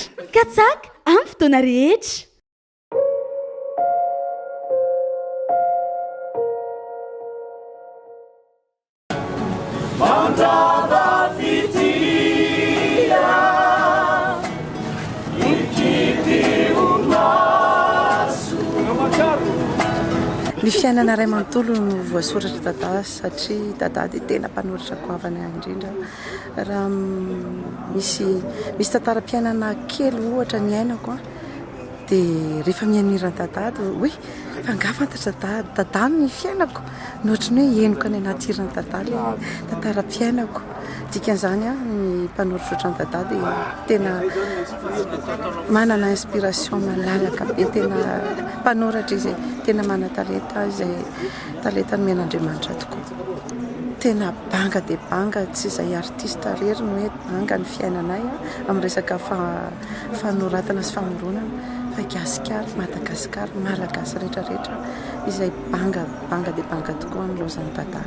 Mikatsaka amin'ny fotoana rehetra. Ny fiainana iray manontolo no voasoratra Dadah satria Dadah dia tena mpanoratra goavana indrindra Raha misy misy tantaram-piainana kely ohatra niainako an, dia rehefa mihaino hiran'i Dadah dia hoe fa angaha fantatry Dadah Dadah ny fiainako? Ny ohatry ny hoe henoka any anaty hiran'i Dadah le tantaram-piainako. Dikan'izany an, ny mpanoratra ohatran'i Dadah dia tena manana inspiration malalaka be, tena mpanoratra izay tena manan-talenta izay. Talenta nomena Andriamanitra tokoa. Tena banga dia banga, tsy izay artista irery no hoe banga ny fiainanay amin'ny resaka fanoratana sy famoronana fa i Gasikara, Madagasikara, Malagasy rehetra rehetra izay banga, banga dia banga tokoa ny loza an'i Dadah.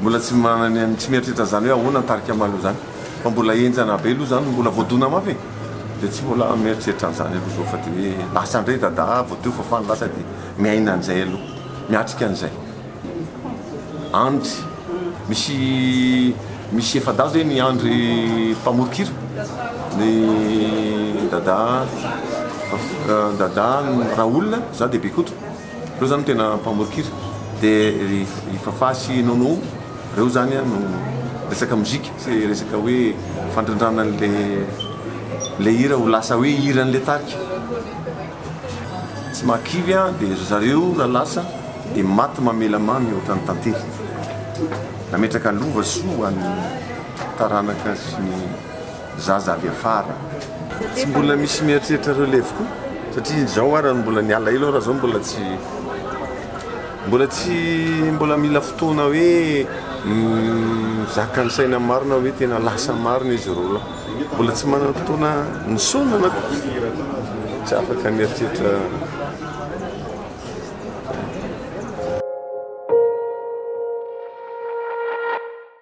Mbola tsy manana tsy mieritreritra zany hoe ahoana ny tarika Malo zany fa mbola enjana be aloha zany mbola voadona mafy e de tsy mbola mieritreritra an'zany aloha zao fa de hoe lasa ndray Dada vao teo fafana lasa de miaina an'zay aloha miatrika an'zay andry misy misy efadahy zay ny andry mpamoron-kira ny Dada Dada Raoul za de Bekoto Reo zany no tena mpamorikira de ry Fafah sy Nono reo zany no resaka mozika sy resaka hoe fandrindrana anle le hira ho lasa hoe hiranle tarika tsy mahakivy an de ry zareo raha lasa de maty mamela mamy ohatran'ny tantely nametraka lova soa ho an'ny taranaka sy ny zaza avy afara. Tsy mbola misy mieritreritra relève koa satria izao ara no mbola niala ela ora zao mbola tsy mbola tsy mbola mila fotoana hoe mizaka ny saina marina hoe tena lasa marina izy ireo lahy mbola tsy manana fotoana nisaonana koa tsy afaka mieritreritra